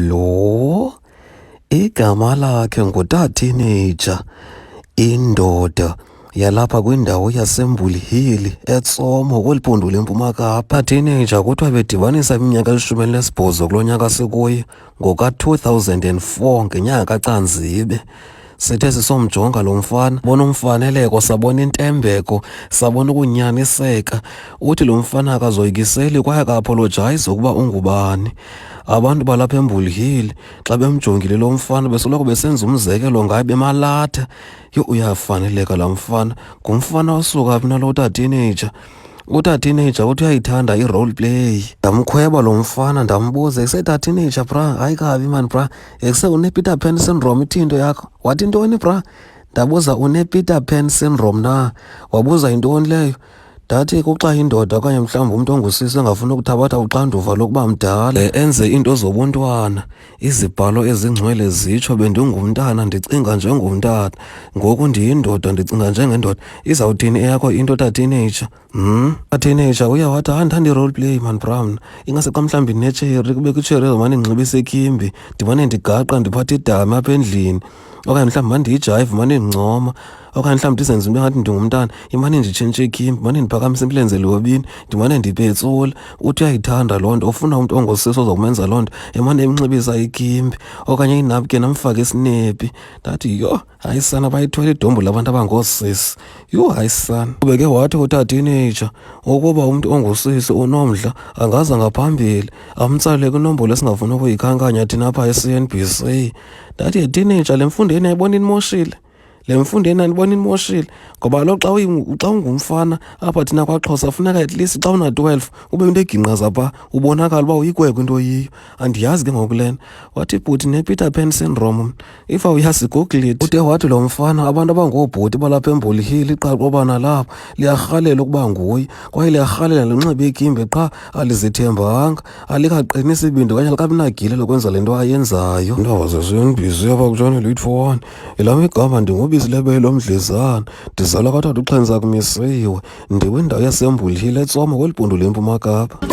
Lo igama lakhe nguTatinija, indoda yalapha kwindawo yaseMbulihili eTsomo kweli phondo leMpuma Kapa. Teenager kuthiwa bedibanisa iminyaka elishumi elinesibhozo kulo nyaka sikuyo ngoka-2004 ngenyanga kaCanzibe. Sithe sisomjonga lo mfana bona umfaneleko sabona intembeko sabona ukunyaniseka uthi lo mfana akazoyikiseli kwaye akaapolojayizi ukuba ungubani abantu balapha embulhile xa bemjongile lo mfana besoloko besenza umzekelo ngaye bemalatha yho uyafaneleka la mfana ngumfana osuka phi nalo utatineyja utatineyja uthi uyayithanda i-role play ndamkhweba lo mfana ndambuza isetathineyja bra hayi kabi mani bra ekuse unepeter pan syndrome ithi into yakho wathi ntoni bra ndabuza unepeter pan syndrome na wabuza yintoni leyo ndathi kuxa indoda okanye mhlawumbi umntu ongusisi engafuna ukuthabatha uxanduva lokuba mdala eh, enze iinto zobuntwana izibhalo ezingcwele zitsho bendingumntana ndicinga njengomntana ngoku ndiyindoda ndicinga njengendoda izawuthini eyakho into tateenager Hmm? Ateenager uya wathi hayi ndithanda i-role play man brown ingase xa mhlawumbi ndinetsheri kube kwitsheri ezomane ndinxibise ikimbi ndimane ndigaqa ndiphathe idami apha endlini okanye mhlawumbi mandiyijayive mane ndincoma okanye mhlawumbi ndizenze into engathi ndingumntana imane nditshintshe ikimbi mane ndiphakamise imilenze lobini ndimane ndipetsula uthi uyayithanda loo nto ufuna umntu ongosisi ozokumenza loo nto emane emnxibisa ikimbi okanye inapken amfake isinepi ndathi yho hayi sana bayithwele idombu labantu abangoosisi yho hayi sana ubeke wathi utadinitsha ukuba umntu ongusisi unomdla angaza ngaphambili amtsalele kwinombolo esingafuni ukuyikhankanya thina apha e-cn b c ndathi yetinitsha le mfundo yeni ayibona inimoshile le mfundo yena ndibona inimoshile ngoba kaloku xa xa ungumfana apha thina kwaxhosa funeka at least xa una-twelve ube into egingqaza pha ubonakala uba uyikwekwe into oyiyo andiyazi ke ngoku lena wathi bhuti ne-peter pan syndrome if awuyazigoogled ude wathi lo mfana abantu abangoobhuti balapha emboli hill iqaqoba nalapha liyarhalela ukuba nguye kwaye liyarhalela lunxibe ikimbe qha alizithembanga alikaqini isibindi okanye likabinagile lokwenza le nto ayenzayo ndaba zesiyondibhizi apha kutshane late for one elam igama ndingubisi lebele lomdlezana ndizalwa kathathu uxhenza kumisiwe ndiwindawo yasemboli hill etsoma kweli bhundu lempuma kapa